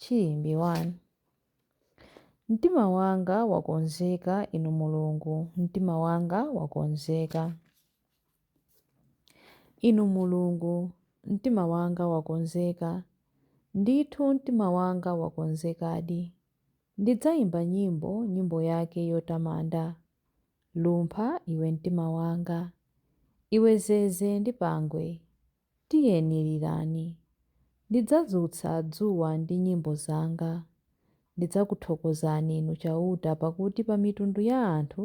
Chiyimbi 1. Mtima wanga wakonzeka, Inu Mulungu, mtima wanga wakonzeka. Inu Mulungu, mtima wanga wakonzeka, ndithu mtima wanga wakonzekadi. Ndidzayimba nyimbo, nyimbo yake yotamanda. Lumpha, iwe mtima wanga. Iwe zeze ndi pangwe. Tiyeni lirani. Ndidzadzutsa dzuwa ndi nyimbo zanga. Ndidzakuthokozani Inu Chauta pakuti pa mitundu ya anthu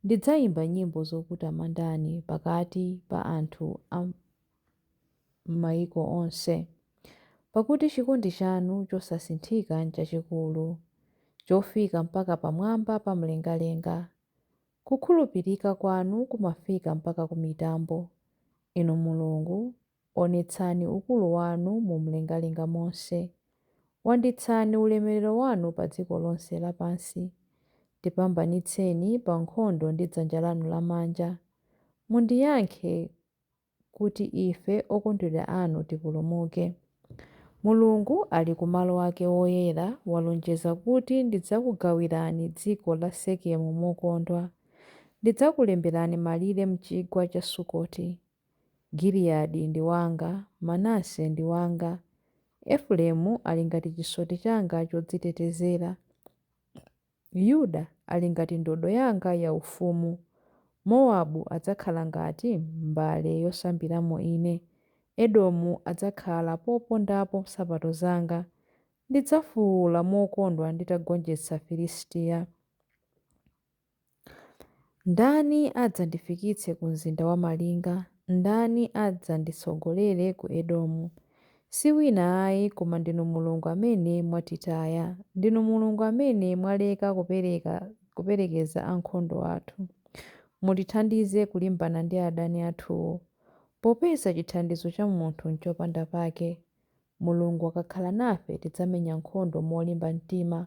ndidzayimba nyimbo zokutamandani pakati pa anthu a m'mayiko onse. Pakuti chikondi chanu chosasinthika n'chachikulu, chofika mpaka pamwamba pa mlengalenga. Kukhulupirika kwanu kumafika mpaka kumitambo, Inu Mulungu, onetsani ukulu wanu mu mlengalenga monse. Wanditsani ulemerero wanu pa dziko lonse lapansi, tipambanitseni pa nkhondo ndi dzanja lanu lamanja, mundiyankhe kuti ife okondedwa anu tipulumuke. Mulungu ali ku malo ake woyera walonjeza kuti ndidzakugawirani dziko la Sekemu mokondwa. Ndidzakulemberani malire m'chigwa cha Sukoti. Giliyadi ndi wanga, Manase ndi wanga. Efereimu ali ngati chisoti changa chodzitetezera. Yuda ali ngati ndodo yanga yaufumu. Mowabu adzakhala ngati mbale yosambiramo ine. Edomu adzakhala popondapo nsapato zanga. Ndidzafuula mokondwa nditagonjetsa Filistiya. Ndani adzandifikitse ku mzinda wamalinga? Ndani adzanditsogolere ku Edomu? Si wina ayi koma ndinu Mulungu amene mwatitaya. Ndinu Mulungu amene mwaleka kupereka kuperekeza ankhondo athu. Mutithandize kulimbana ndi adani athuwo. Popeza chithandizo cha munthu n'chopanda pake, Mulungu akakhala nafe tidzamenya nkhondo molimba mtima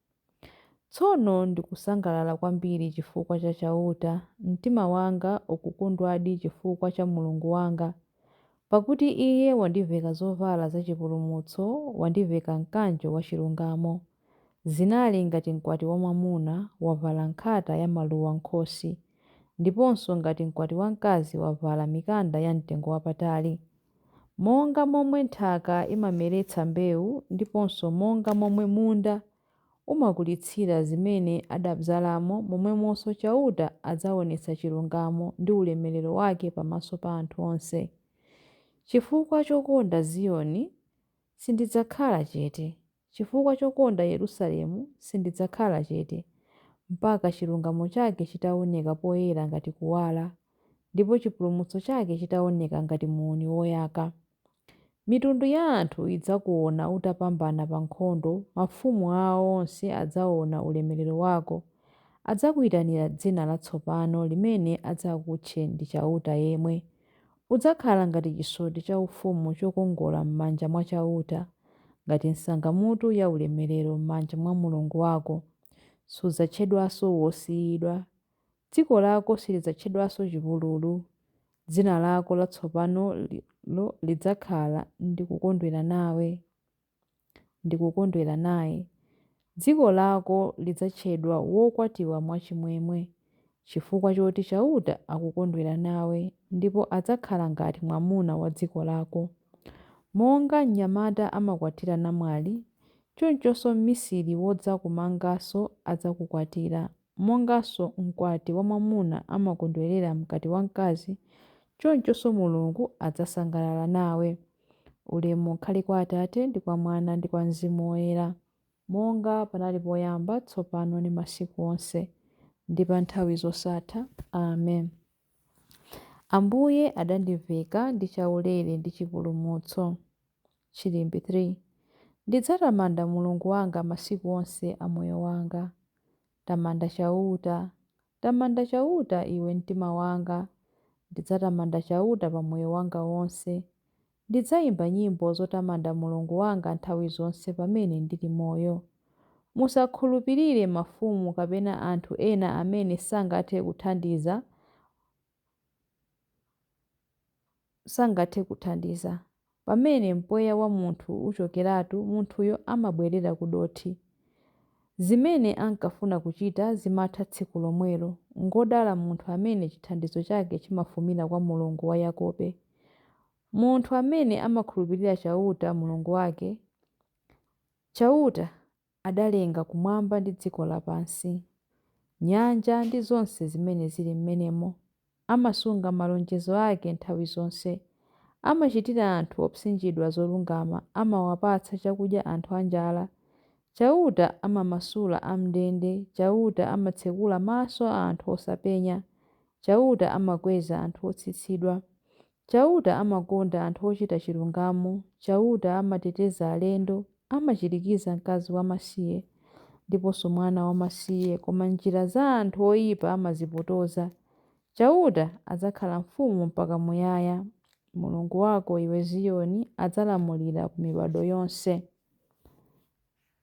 Tsono ndikusangalala kwambiri chifukwa cha Chauta, mtima wanga ukukondwadi chifukwa cha Mulungu wanga, pakuti Iye wandiveka zovala zachipulumutso, wandiveka mkanjo wachilungamo. Zinali ngati mkwati wamwamuna wavala nkhata yamaluwa m'khosi, ndiponso ngati mkwati wamkazi wavala mikanda yamtengowapatali. Monga momwe nthaka imameretsa mbewu ndiponso monga momwe munda umakulitsira zimene adabzalamo momwemonso Chauta adzaonetsa chilungamo ndi ulemerero wake pamaso pa anthu onse. Chifukwa chokonda Ziyoni, sindidzakhala chete. Chifukwa chokonda Yerusalemu, sindidzakhala chete, mpaka chilungamo chake chitaoneka poyera ngati kuwala, ndipo chipulumutso chake chitaoneka ngati muuni woyaka. Mitundu ya anthu idzakuona utapambana pa nkhondo, mafumu awo onse adzaona ulemerero wako. Adzakuitanira dzina latsopano limene adzakutche ndi Chauta yemwe, Udzakhala ngati chisoti chaufumu chokongola m'manja mwa Chauta, ngati nsangamutu yaulemerero m'manja mwa Mulungu wako. Sudzatchedwanso wosiyidwa. Dziko lako silidzatchedwanso chipululu. Dzina lako latsopanolo lidzakhala Ndikukondwera nawe. ndikukondwera naye. Dziko lako lidzatchedwa wokwatiwa mwachimwemwe, chifukwa choti Chauta akukondwera nawe, ndipo adzakhala ngati mwamuna wa dziko lako. Monga mnyamata amakwatira namwali, chonchonso mmisiri wodzakumanganso adzakukwatira. Monganso mkwati wamwamuna amakondwerera mkwati wamkazi, chonchonso Mulungu adzasangalala nawe. Ulemu ukhale kwa Atate, ndi kwa Mwana, ndi kwa Mzimu Woyera. Monga panali poyamba, tsopano, ndi masiku onse, ndi pa nthawi zosatha. Amen. Ambuye adandiveka ndi chaulere ndi chipulumutso. Chilimbi 3. Ndidzatamanda Mulungu wanga masiku onse a moyo wanga. Tamanda Chauta, tamanda Chauta, iwe mtima wanga. Ndidzatamanda Chauta pa moyo wanga wonse. Ndidzaimba nyimbo zotamanda Mulungu wanga nthawi zonse pamene ndili moyo. Musakhulupirire mafumu kapena anthu ena amene sangathe kuthandiza. sangathe kuthandiza. Pamene mpweya wa munthu uchokeratu, munthuyo amabwerera ku dothi. Zimene ankafuna kuchita zimatha tsiku lomwelo. Ngwodala munthu amene chithandizo chake chimafumira kwa Mulungu wa Yakobe. Munthu amene amakhulupirira Chauta, Mulungu wake, Chauta adalenga kumwamba ndi dziko lapansi, nyanja ndi zonse zimene zili m'menemo, amasunga malonjezo ake nthawi zonse, amachitira anthu opsinjidwa zolungama, amawapatsa chakudya anthu anjala, Chauta amamasula am'ndende, Chauta amatsekula maso a anthu osapenya, Chauta amakweza anthu otsitsidwa, Chauta amakonda anthu ochita chilungamo, Chauta amateteza alendo, amachirikiza mkazi wamasiye ndiponso mwana wamasiye, koma njira za anthu oipa amazipotoza. Chauta adzakhala mfumu mpaka muyaya, Mulungu wako, iwe Ziyoni, adzalamulira ku mibadwo yonse.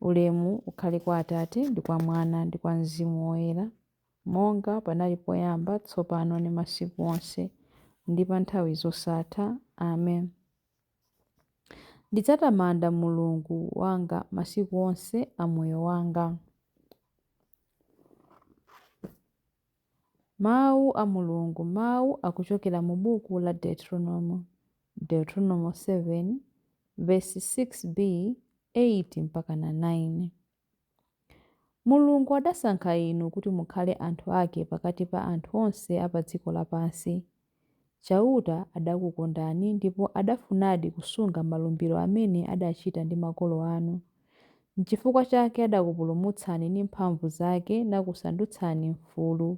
Ulemu ukhale kwa Atate, ndi kwa Mwana, ndi kwa Mzimu Woyera. Monga panali poyamba, tsopano ndi masiku onse, ndi pa nthawi zosatha. Amen. Ndidzatamanda Mulungu wanga masiku onse a moyo wanga. Mawu a Mulungu, mawu akuchokera mu buku la Deuteronomo, Deuteronomo 7, vesi 6b, 8 mpaka na 9. Mulungu adasankha inu kuti mukhale anthu ake pakati pa anthu onse a pa dziko lapansi. Chauta adakukondani ndipo adafunadi kusunga malumbiro amene adachita ndi makolo anu. Nchifukwa chake adakupulumutsani ndi mphamvu zake nakusandutsani mfulu,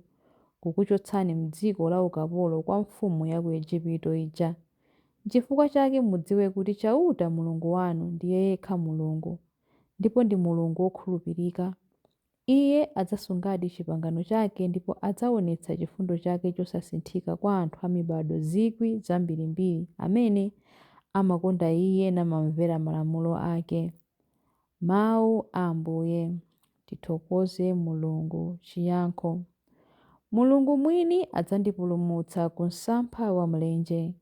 kukuchotsani m'dziko laukapolo kwa mfumu ya ku Ejipito ija. Nchifukwa chake mudziwe kuti Chauta, Mulungu wanu, ndiye yekha Mulungu. ndipo ndi Mulungu wokhulupirika. Iye adzasungadi chipangano chake ndipo adzaonetsa chifundo chake chosasinthika kwa anthu a mibadwo zikwi zambirimbiri amene amakonda iye namamvera malamulo ake. Mawu a Ambuye. Tithokoze Mulungu. Chiyankho Mulungu mwini adzandipulumutsa ku msampha wa mlenje.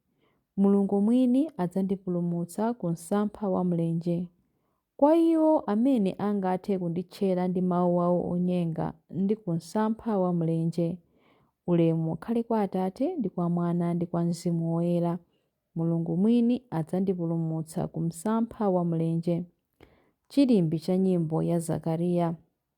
Mulungu mwini adzandipulumutsa ku msampha wa mlenje. Kwa iwo amene angathe kunditchera ndi mawu awo onyenga ndi ku msampha wa mlenje. Ulemu ukhale kwa Atate ndi kwa Mwana ndi kwa Mzimu Woyera. Mulungu mwini adzandipulumutsa ku msampha wa mlenje. Chilimbi cha nyimbo ya Zakariya.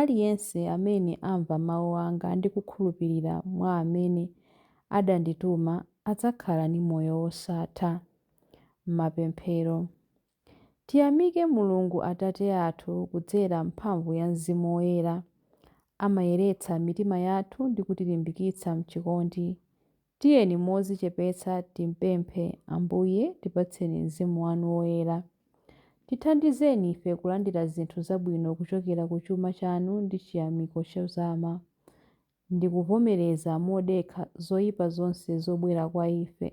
Aliyense amene amva mawu anga ndi kukhulupirira mwa amene adandituma adzakhala ndi moyo wosatha. Mapemphero. Tiyamike Mulungu Atate athu kudzera m'mphamvu ya Mzimu Woyera. Amayeretsa mitima yathu ndi kutilimbikitsa m'chikondi Tiyeni modzichepetsa timpemphe, Ambuye, tipatseni Mzimu wanu Woyera. Tithandizeni ife kulandira zinthu zabwino kuchokera ku chuma chanu ndi chiyamiko chozama, ndi kuvomereza modekha zoipa zonse zobwera kwa ife.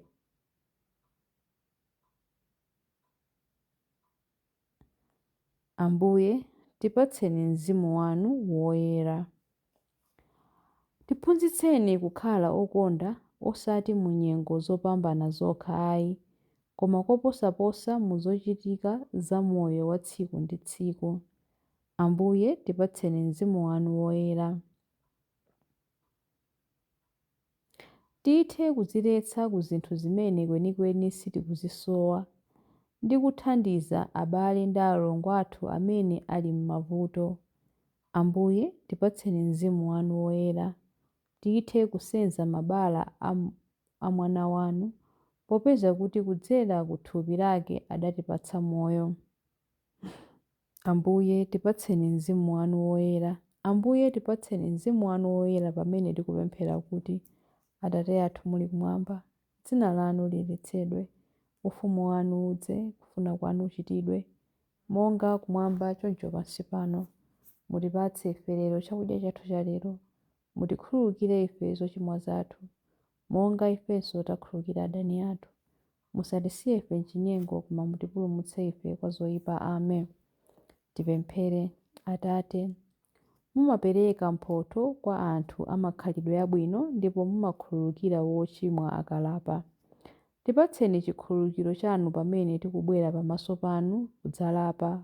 Ambuye, tipatseni Mzimu wanu Woyera. Tiphunzitseni kukhala okonda osati mu nyengo zopambana zokha ayi, koma koposaposa mu zochitika za moyo wa tsiku ndi tsiku. Ambuye, tipatseni Mzimu wanu Woyera. Tithe kudziletsa ku zinthu zimene kwenikweni sitikuzisowa ndi kuthandiza abale ndi alongo athu amene ali m'mavuto. Ambuye, tipatseni Mzimu wanu Woyera. Tithe kusenza mabala a Mwana wanu, popeza kuti kudzera ku thupi lake adatipatsa moyo. Ambuye, tipatseni Mzimu Wanu Woyera. Ambuye, tipatseni Mzimu Wanu Woyera pamene tikupemphera kuti, Atate athu muli Kumwamba, Dzina Lanu liyeretsedwe. Ufumu Wanu udze. Kufuna Kwanu kuchitidwe, monga Kumwamba choncho pansi pano. Mutipatse ife lero chakudya chathu cha lero. Mutikhululukire ife zochimwa zathu, monga ifenso tikhululukira adani athu. Musatisiye ife m'chinyengo, koma mutipulumutse ife kwa zoipa. Amen. Tipemphere. Atate. Mumapereka mphotho kwa anthu a makhalidwe abwino ndipo mumakhululukira wochimwa akalapa. Tipatseni chikhululukiro chanu pamene tikubwera pamaso panu kudzalapa